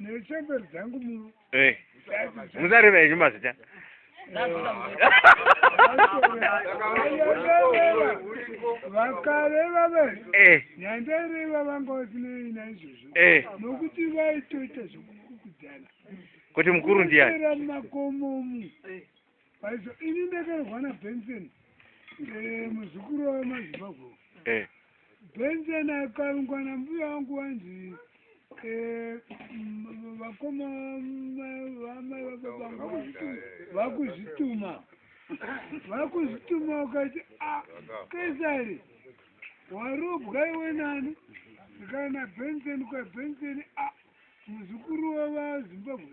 nechemberi dzangu muno eh. musareva henyu mazita vakareva vese eh. nyandaireva vanga vasinei naizvozvo eh. nokuti vaitoita zvekukukudzana kuti mukuru ndiani makomomu Paizo ini ndakarohwa na Benson eh, muzukuru wa mazimbabwe eh. Benson akarungwa na mbuya wangu wanzi eh, vakoma vamai vababa vangu vakuzvituma vakuzvituma ukati ah, kesari warobwa iwe nani ndikana Benson kwa Benson ah, muzukuru wa vazimbabwe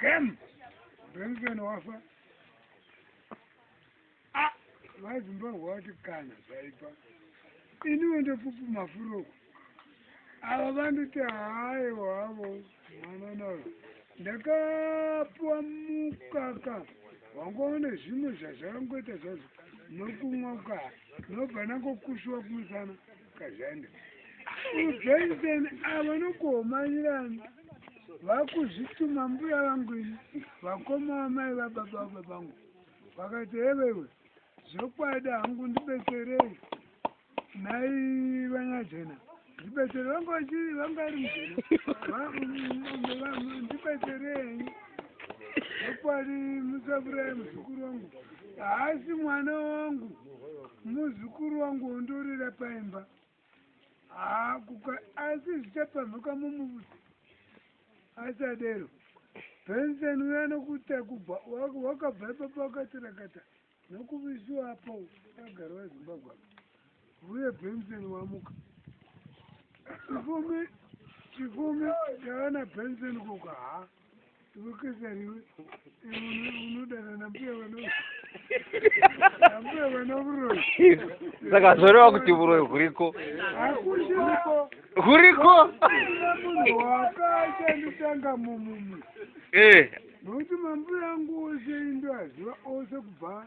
Kem. Benson wafa. Ah, vaizimbabwe wati kana zvaipa. Ini wende pupu mafuro. Ava vanditi hayi wavo mwana nawo. Ndakapuwa mukaka wangoone zvimwe zvazvakangoita zvazvo nokumwa ukaa nobva nangokushuwa kumusana. Kazhanda. Ujaisen avo nokuhomanyirana vakuzvituma mbuya vangu ini vakoma vamai vababa vababangu vakati hevewe zvokwadi hangu ndibetserei nai vanyajena ndibetsere vanga vachii vanga ari mujena ndibetserei zvokwadi musavurayi muzukuru wangu Haasi mwana wangu, muzukuru wangu wondorera paimba. Haa, kuka, asi zvichapamhuka mumubusi. Asadero. Benson uya nokuta kubva wakabva ipapa wakatirakata nokuvisiwa apo agara wazimbabwe apo uye benson wamuka chifumi chifumi chaana benson kuka haa ukasariwe unodana nambuya vanambuya vana vuroyi saka zvoreva kuti vuroyi huriko hakuiko huriko kuna munhu wakashandisanga mumumwe eh. nokuti mambuya angu ose indo aziva ose kubva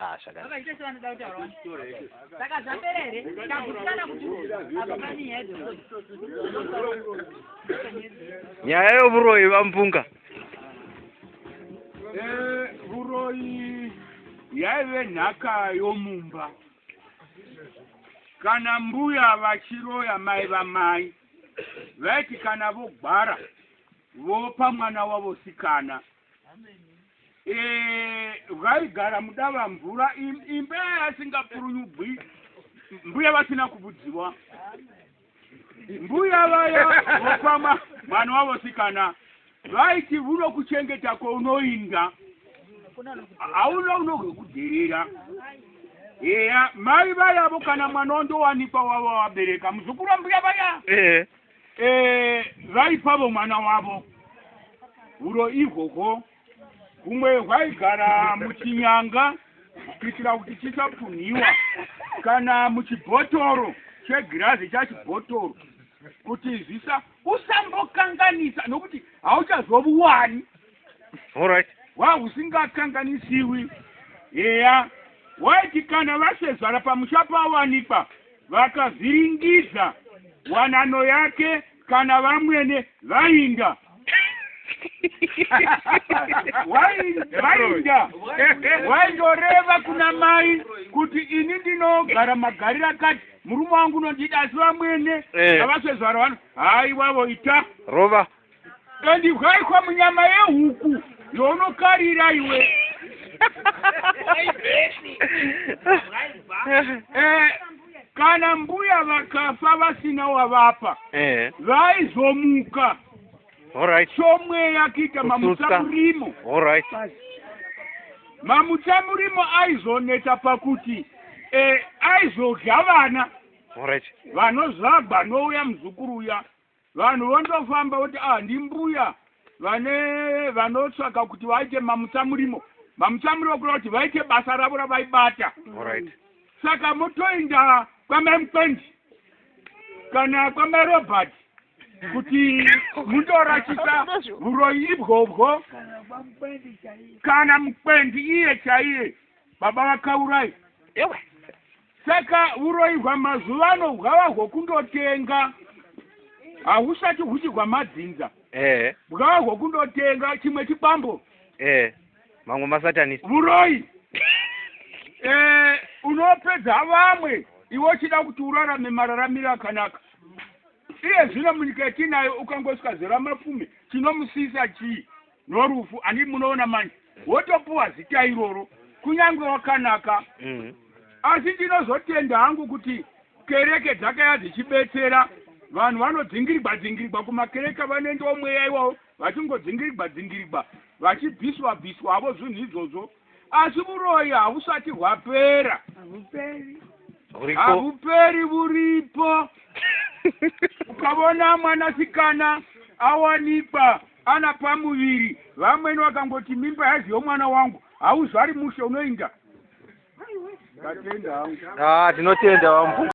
Ah, zvakana. Saka zvapera here? Takutikana kuti apa pane nyaya dzekuti. Nyaya yovuroyi vampunga. Eh, vuroyi yaive nhaka yomumba. Kana mbuya vachiroya mai vamai vaiti kana vogwara vopa mwana wavo sikana bwaigara eh, mudava mvura imba yasingapurunyubwi mbuya vasina kubudziwa mbuya vaya vokwama mwana wavo sikana vaiti vuno kuchengeta kwaunoinda hauna unogekuderera eya mai vayavo kana mwana wandowanikwa wavo wabereka muzukuru wambuya vaya eh. eh, vaipavo mwana wavo huro ihwohwo humwe hwaigara muchinyanga kuitira kuti chisapunhiwa kana muchibhotoro chegirazi chachibhotoro kuti zvisa usambokanganisa nokuti hauchazovuwani right. wahusingakanganisiwi eya waiti kana vasezvara pamusha pawanikwa vakavhiringidza wanano yake kana vamwene vainga wainga waindoreva kuna mai kuti ini ndinogara magariro akati murume wangu unondida asi vamwene avasezvara eh. vano haiwavo ita rova Ndandibwaikwa munyama yehuku yaunokarira iwe. Eh, kana mbuya vakafa vasina wavapa eh. vaizomuka somweya kuita mamutsamurimo mamutsamurimo aizoneta pakuti eh, aizodya vana vanozvagwa nouya muzukuru uya Vanhu vondofamba voti ah ndimbuya vane vanotsvaka kuti vaite mamutsamurimo mamutsamurimo kureva kuti vaite basa ravo ravaibata Alright. saka motoenda kwamai mukwendi kana kwamai robert kuti mundorachisa uroyi ibwobwo kana mukwendi iye chaiye baba vakaurai Ewe. Saka uroyi hwamazuva ano bwava hwokundotenga hahusati huchi hwamadzinza eh. bwava hwokundotenga chimwe chikwambo eh. mamwe masatanist uroyi eh, unopedza vamwe iwe uchida kuti urarame mararamiro akanaka iye zvino munyika yetinayo ukangosvika zera mapfume chinomusiyisa chii norufu ani munoona manje wotopuwa zita iroro kunyange wakanaka mm. asi ndinozotenda hangu kuti kereke dzakaya dzichibetsera vanhu vanodzingirigwa dzingirigwa kumakereke vanoendawo mweya iwawo vachingodzingirigwa dzingirigwa vachibviswa bviswa avo zvinhu izvozvo asi vuroyi havusati hwapera havuperi vuripo ukavona mwanasikana awanikwa Ana pamuviri vamweni vakangoti mimba yazi yomwana wangu hauzvari mushe unoinda. Ndatenda hangu. Ah, tinotenda wambu.